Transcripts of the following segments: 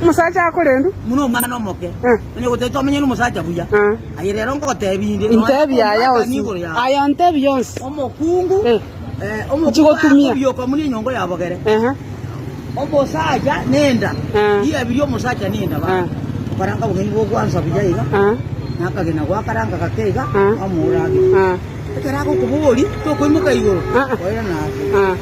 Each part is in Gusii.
Omosacha akorendu. Muna omwana omoke. Onye gotete omenye n'omosacha buya. Aye rero nkogotebia inde. Intebia aya onsi. Aya ontebia onsi. Omokungu. Omokungu akobioka muna enyongo y'abogere. Omosacha nenda. Riabiria omosacha nenda baba. Okaranga obong'aini bw'ogwansa buya iga. Nakagena gwakaranga gake iga. Kwamoura age. Ekero agokoboria tokoimoka igoro. Oirana ase.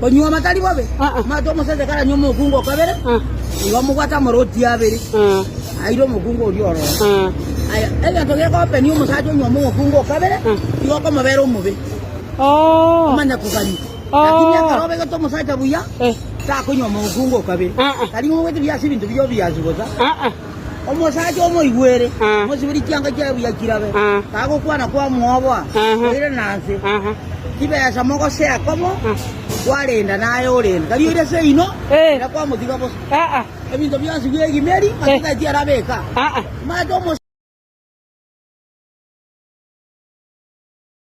Konyuoma tari bobe, mate omosacha karanywe omokungu o kabere, igo amobwate amarooti abere, aire omokungu oria ororo. Aya, egento gekopenia omosacha onyuoma omokungu o kabere, igo okomobera omobe, omanya kogania. Lakini ekero obegete omosacha buya, takonyuoma omokungu o kabere. Tari ng'a obwate biase ebinto biyio biasu bosa. Omosacha omoigwere, omosiberi chianga chiaye buya chirabe, kagokwana kwamoboa, Oire nanse, chibesa mogosea komo kwarenda naye orende, tari oire ase ino, na kwamotiga bosa. Ebinto bionsi bi'egimeri masacha tiarabe eka. Timanyete omosacha.